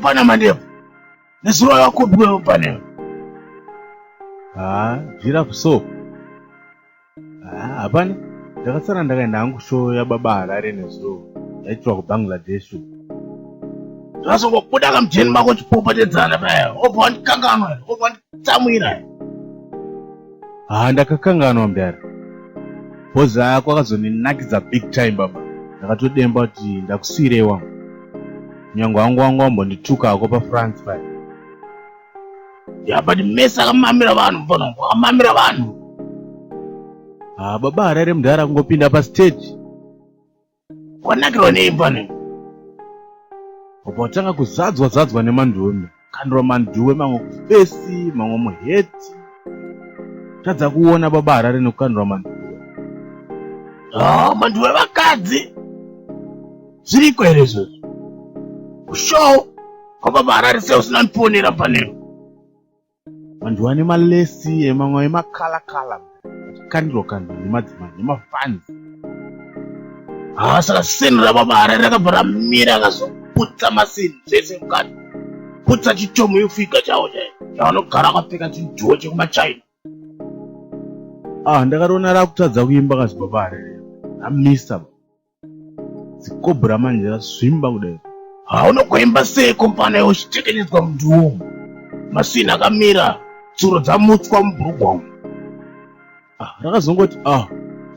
pana mandevu nezuro yakupi kwevo panevo haa zvirafu so haa hapana ndakasara ndakaenda hangu show yababa harare nezuro yaitirwa kubangladesh zvazongobuda kamujeni mako chipopotedzana paya obva wandikanganwa obva wanditsamwira haa ndakakanganwa mdara bhozi ako akazondinakidza big time baba ndakatodemba kuti ndakusiirei wangu nyange wangu wangu wambondituka ako pafrance paya ya but mese akamamira vanhu mfana wangu akamamira vanhu haa baba harare mdara kungopinda pastage Wanakirwa nei pano? Baba watanga kuzadzwa zadzwa nemanduwe mna. Kandura manduwe mamwe kufesi, mamwe muheti. Tadza kuona baba Harare nekukandura manduwe. Ah, manduwe vakadzi. Zviriko here izvozvo? Show kwababa Harare sei usina ndiponera panero? vanhu vane malesi emamwe emakala kala kandiro kandiro nemadzimai nemafans haa saka sini ramamara rakabva ramira akazoputsa masini zvese mukati putsa chitomo yofiga chavo chai chavanogara akapfeka chidhiwo chekumachina ah ndakatoona rakutadza kuimba kazibaba harere amisa zikobra manje razvimba kudai hauna kuimba sei kompana iwe uchitekenyedzwa munduwo masini akamira tsuro dzamutswa mubhurugwa umu ah, rakazongoti ah,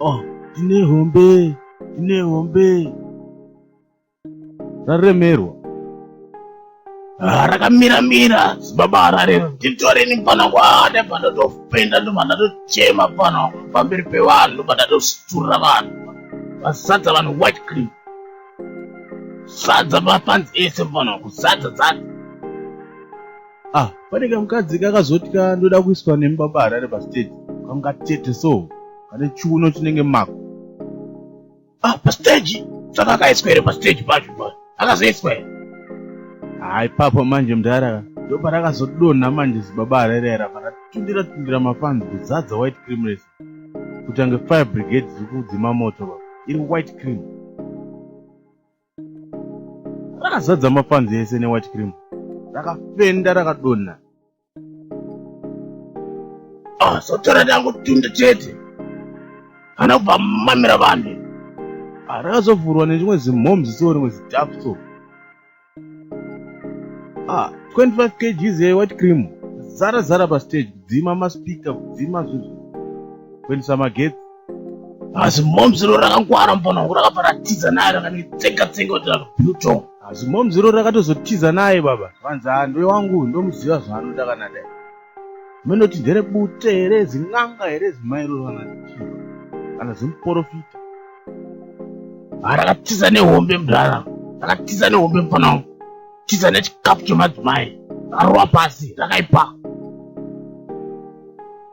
ah, tine hombe tine hombe raremerwa Ah, rakamira mira zibaba harare nditoreni pano kwaane pandatopenda ndobva ndatochema pano pamberi pevanhu ndobva ndatositurira vanhu vasadza vanhu white cream sadza mapanzi ese pano kusadza dzati ah pane kamukadzi kakazoti ka ndoda kuiswa nemi baba harare pastage kangatete so kane chiuno chinenge mako ah pastage saka akaiswa here pastage pacho pa akazoiswa here ha ipapo manje mdara ndoparakazodonha manje zibaba harerera paratundira tundira mafanzi kuzadza white cream rese kutange fire brigade dziri kudzima moto baba iri white cream rakazadza mafanzi ese newhite cream rakafenda rakadonha Ah, sotora dangu tunda chete. Kana kubva mamira vanhu. Ah, rakazovhurwa nechimwe zimhoms so rimwe zidhafu so. Ah, 25 kgs ye white cream. Zara zara pa stage kudzima ma speaker kudzima zvinhu. Kuendesa magetsi. asi moms ro rakangwara mbona wangu rakabva ratiza naye rakanitsenga tsenga kuti rakabuton asi moms ro rakatozotiza naye baba vanzi handwe wangu ndomuziva zvaanoda kana dai munoti ndere bute here zin'anga here zimairoro kana kana zimuporofita ah, rakatiza nehombe mdara rakatiza nehombe mfana wangu tiza nechikapu chemadzimai rarowa pasi rakaipa